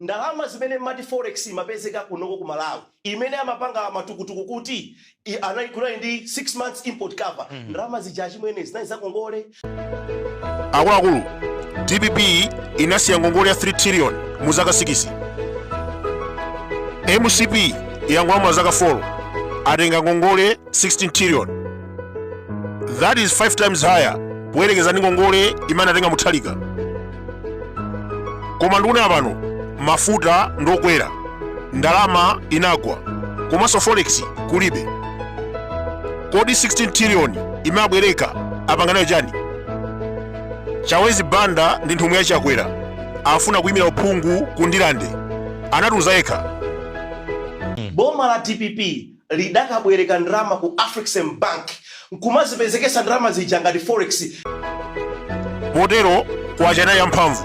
Ndalama zimene mmati forex imapezeka kunoko ku Malawi imene amapanga matukutuku kuti anali kunali ndi 6 months import cover ndalama zija achimwene zinali za ngongole. Akuluakulu, dpp inasiya ngongole ya 3 trillion mu zaka sikisi. Mcp yangolamula zaka folo atenga ngongole 16 trillion. that is 5 times higher poyerekeza ndi ngongole imene anatenga muthalika koma ndikunena pano mafuta ndokwera ndalama inagwa komanso forex kulibe kodi 16 trillion imene abwereka apanga nayo chani chawezi banda ndi nthumwi ya chakwera afuna kuyimira uphungu ku ndirande anatiuza yekha Boma la dpp linkakabwereka ndalama ku Afrexim Bank n'kumazipezeketsa ndalama zija ngati forex. Potero kwacha inali yamphamvu,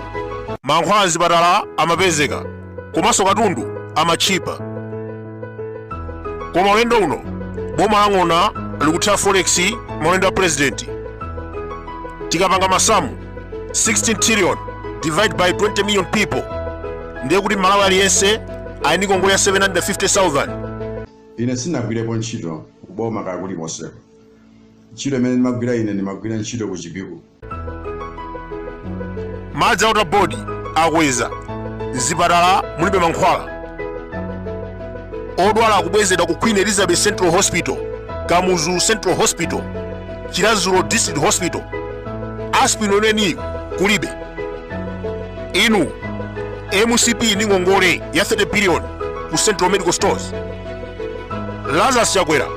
mankhwala m'zipatala amapezeka komanso katundu amatchipa. Koma ulendo uno, boma la Ng'ona likuthera forex maulendo a pulezidenti. Tikapanga masamu, 16 trillion divide by 20 million people ndiye kuti mmalawi aliyense ali ndi ngongole ya 750000 ine sindinagwirepo ntchito kuboma kaya kulikonseko ntchito imene ndimagwira ine ndimagwira ntchito ku chipiku madzi a water board akweza mzipatala mulibe mankhwala odwala akubwezedwa ku queen elizabeth central hospital kamuzu central hospital chiradzulu district hospital aspirin weniweni kulibe inu mcp ndi ngongole ya 30 billion ku central medical stores lazarus chakwera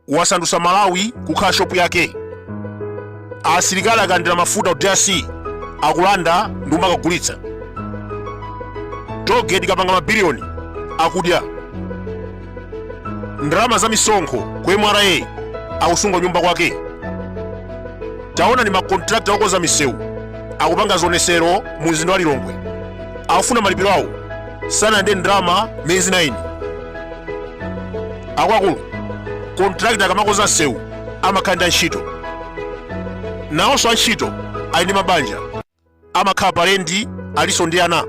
wasandutsa malawi kukhala shopu yake asilikali akalandira mafuta ku drc akulanda ndi kumakagulitsa tollgate ikapanga mabiliyoni akudya ndalama za misonkho ku mra akusunga kunyumba kwake taonani makontrakta okonza misewu akupanga zionesero mu mzinda wa lilongwe akufuna malipiro awo sanalandire ndalama miyezi 9 akuluakulu kontrakta akamakonza msewu amakhala ndi antchito nawonso antchito ali ndi mabanja amakhala pa lendi alinso ndi ana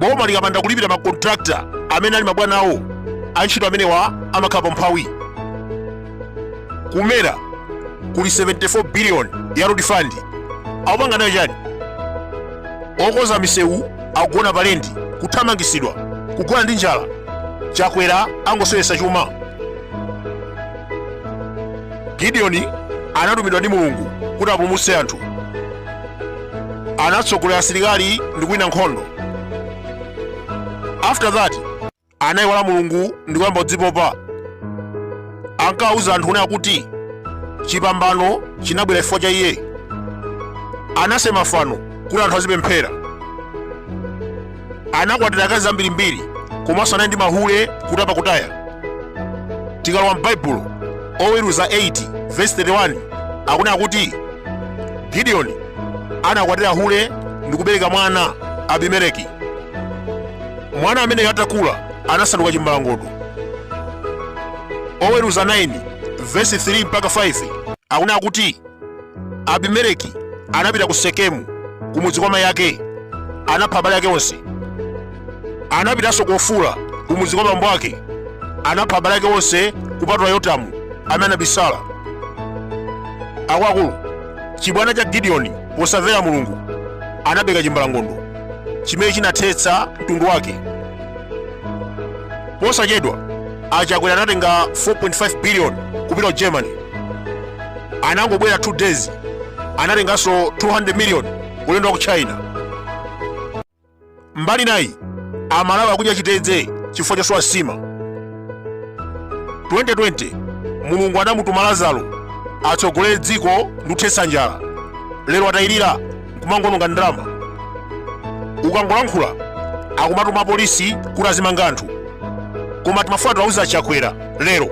boma likapanda kulipira makontrakta amene ali mabwana awo antchito amenewa amakhala pa umphawi ku nra kuli 74 billion ya road fund akupanga nayo chani okonza misewu akugona pa lendi kuthamangisidwa kugona ndi njala chakwera angoseweretsa chuma gideoni anatumidwa ndi mulungu kuti apulumutse anthu anatsogolera asilikali ndi kuwina nkhondo after that anayiwala mulungu ndi kuyamba kudzipopa ankawuza anthu ena kuti chipambano chinabwera chifukwa cha iye anasema fano kuti anthu azipemphera anakwatira akazi ambirimbiri komanso anali ndi mahule kutapa kutaya tikalowa m'baibulo oweruza 8 vesi 31 akunena kuti gidiyoni anakwatira hule ndi kubereka mwana abimeleki mwana ameneyo atakula anasanduka chimbalangondo oweruza 9 vesi 3 mpaka 5 akunena kuti abimeleki anapita ku sekemu kumudzi kwa mayi ake anapha abale ake onse anapitanso ku ofura kumudzi kwa bambo ake anapha abale ake onse kupatula yotamu amene anabisala akuluakulu chibwana cha gideoni posamvera mulungu anabereka chimbalangondo chimene chinathetsa mtundu wake posachedwa achakwera anatenga 4.5 biliyoni kupita ku germany anangobwera 2 days anatenganso 200 million ulendo wa ku china mbali nayi amalawi akudya chitedze chifukwa chosowa nsima 2020 mulungu anamutuma lazaro atsogolere dziko ndi kuthetsa njala lero atayirira nkumangononga ndalama ukangolankhula akumatuma apolisi kuti azimanga anthu koma timafuna tiwauze achakwera lero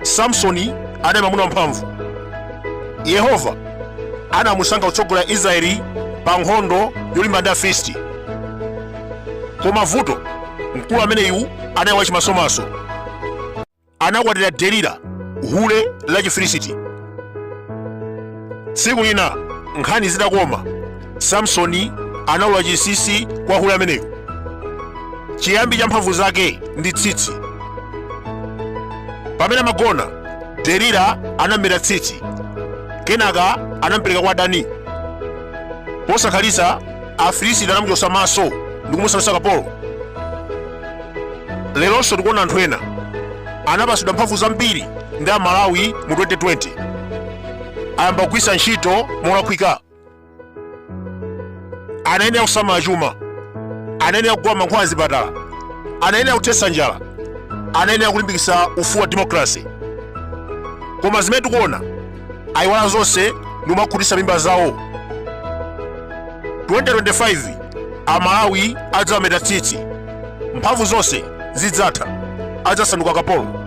samsoni anali mwamuna wamphamvu yehova anamusankha kutsogolera israeli pa nkhondo yolimbana ndi afilisti koma vuto mkulu ameneyu anali wachimasomaso anakwatira delila hule la chifilisiti tsiku lina nkhani zitakoma samsoni anaulula chinsinsi kwa hule ameneyo chiyambi cha mphamvu zake ndi tsitsi pamene amagona delila anameta tsitsi kenaka anampereka kwa adani posakhalitsa afilisiti anamuchotsa maso ndi kumusandutsa kapolo leronso tikuona anthu ena anapatsidwa mphamvu zambiri ndi amalawi mu 2020 ayamba kugwiritsa ntchito molakwika anayenera kusamala chuma anayenera kugula mankhwala azipatala anayenera kuthetsa njala anayenera kulimbikitsa ufulu wa demokrasi koma zimene tikuona ayiwala zonse ndikumakhutitsa mimba zawo 2025 amalawi adzameta tsitsi mphamvu zonse zidzatha adzasanduka kapolo